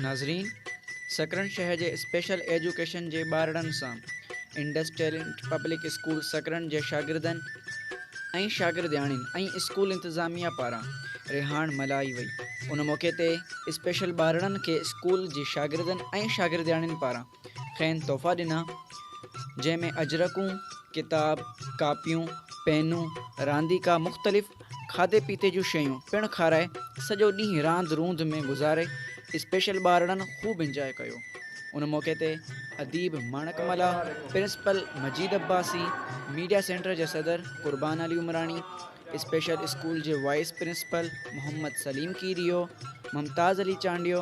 ناظرين سڪرنڊ شهر جي اسپيشل ايجوڪيشن جي ٻارڙن سان Indus talent public school Sakrand جي شاگردن ۽ شاگردياڻين ۽ اسڪول انتظاميه پاران رهاڻ ملهائي وئي ان موقعي تي اسپيشل ٻارڙن کي اسڪول جي شاگردن ۽ شاگردياڻين پاران کين تحفا ڏنا، جنهن ۾ اجرڪون، ڪتاب، ڪاپيون، پينون، رانديڪا مختلف کاڌي پيتي جون شيون پڻ کارائي سڄو ڏينهن راند روند ۾ گذاري اسپيشل ٻارڙن خوب انجواء ڪيو ان موقعي تي اديب Manak Mallah, principal Majeed Abbasi, media centre جي صدر قربان علي عمراڻي، اسپيشل اسڪول جي وائيس پرنسپل محمد سليم ڪيريو، ممتاز علي چانڊيو،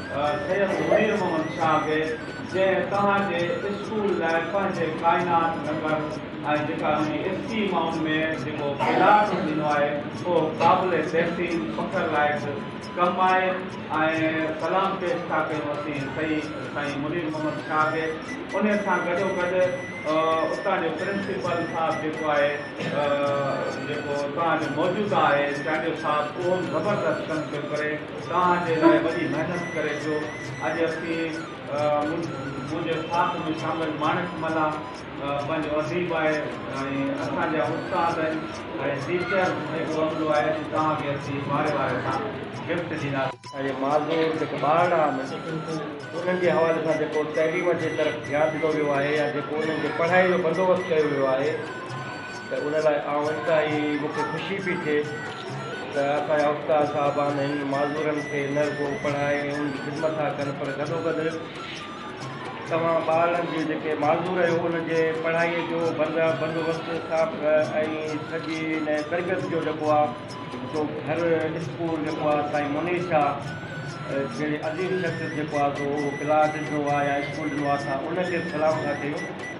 سيد منير محمد شاهه کي جنهن توهان جي اسڪول لاء پنهنجي ڪائنات نگر ۽ جيڪا ان جي افقي مائون ۾ جيڪو پلاٽ ڏنو آهي اهو قابل بهترين فخر لائق ڪم آهي ۽ سلام پيش ٿا ڪيون اسين سهي سائين منير محمد شاهه کي ان سان گڏو گڏ اتان جو پرنسپل صاحب جيڪو آهي جيڪو توهان جو موجوده آهي چانڊيو صاحب اهو به زبردست ڪم پيو ڪري توهان جي لاء وڏي محنت ڪري ٿيو اڄ اسين منهنجي ساٿ ۾ شامل ماڻڪ ملاح پنهنجو اديب آهي ۽ اسان جا استاد آهن ۽ ٽيچر جيڪو عملو آهي اڄ توهان کي اسين واري واري سان گفٽ ڏيندا. اهي معذور جيڪي ٻارڙا آهن انهن جي حوالي سان جيڪو تعليم جي طرف ڌيان ڏنو ويو آهي يا جيڪو انهن جي پڙهائي جو بندوبست ڪيو ويو آهي ته ان لاء آئون انتهائي مون کي خوشي پئي ٿئي ته اسان جا استاد صاحبان هن معذورن کي نه رڳو پڙهائي ۽ انهن جي خدمت ٿا ڪن پر گڏوگڏ توهان ٻارڙن جي جيڪي معذور آهيو انهن جي پڙهائي جو بندوبست صاف ۽ سڄي ان تربيت جو جيڪو آ سو گهر اسڪول جيڪو آ سائين منير شاهه جهڙي عظيم شخصيت جيڪو آ سو اهو پلاٽ ڏنو آ يا اسڪول ڏنو آ اسان ان کي به سلام ٿا ڪيون.